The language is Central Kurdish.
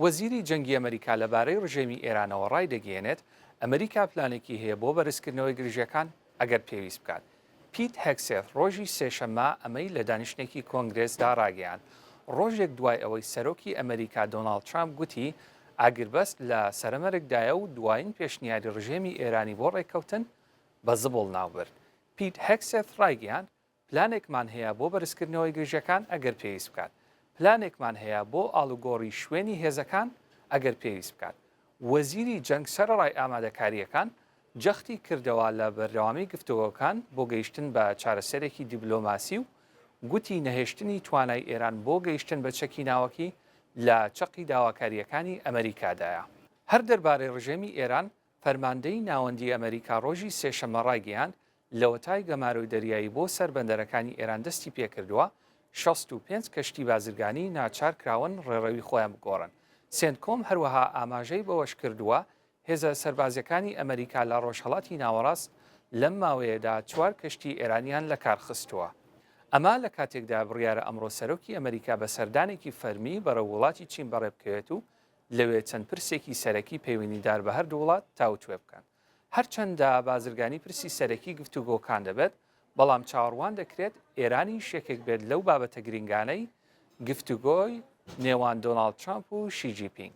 وەزیری جەنگی ئەمەریکا لەبارەی رژێمی ئێرانەوە رایدەگەیەنێت، ئەمەریکا پلانێکی هەیە بۆ بەرزکردنەوەی گرژییەکان ئەگەر پێویست بکات. پیت هێگسێث رۆژی سێشەممە ئەمەی لە دانیشتنێکی کۆنگرێسدا راگەیاند، رۆژێک دوای ئەوەی سەرۆکی ئەمەریکا دۆناڵد ترامپ گوتی ئاگربەست لە سەرەمەرگدایە و دوایین پێشنیاری رژێمی ئێرانی بۆ رێککەوتن بە زبڵ ناوبرد. پیت هێگسێث رایگەیاند، پلانێکمان هەیە بۆ بەرزکردنەوەی گرژەکان ئەگەر پێویست بکات، پلانێکمان هەیە بۆ ئاڵوگۆڕی شوێنی هێزەکان ئەگەر پێویست بکات. وەزیری جەنگ سەرەڕای ئامادەکارییەکان، جەختی کردەوە لە بەردەوامی گفتوگۆکان بۆ گەیشتن بە چارەسەرێکی دیبلۆماسی و گوتی نەهێشتنی توانای ئێران بۆ گەیشتن بە چەکی ناوەکی لە چەقی داواکارییەکانی ئەمەریکادایە. هەر دەربارەی ڕژێمی ئێران، فەرماندەیی ناوەندیی ئەمەریکا ڕۆژی سێشەممە ڕایگەیاند، لەوەتای گەمارۆی دەریایی بۆ سەر بەندەرەکانی ئێران دەستی پێ کردووە، شەست و پێنج کەشتی بازرگانی ناچار کراون ڕێڕەوی خۆیان بگۆڕن. سێنتکۆم هەروەها ئاماژەی بەوەش کردووە، هێزە سەربازییەکانی ئەمەریکا لە ڕۆژهەڵاتی ناوەڕاست لەم ماوەیەدا چوار کەشتی ئێرانیان لە کار خستووە. ئەمە لە کاتێکدا بڕیارە ئەمڕۆ سەرۆکی ئەمەریکا بە سەردانێکی فەرمی بەرەو وڵاتی چین بەڕێ بکەوێت و لەوێ چەند پرسێکی سەرەکی پەیوەنیدار بە هەردوو وڵات تاوتوێ بکەن. هەرچەندە بازرگانی پرسی سەرەکی گفتوگۆکان دەبێت، بەڵام چاوەڕوان دەکرێت ئێرانیش یەکێک بێت لەو بابەتە گرنگانەی گفتوگۆی نێوان دۆناڵد ترامپ و شی جی پینگ.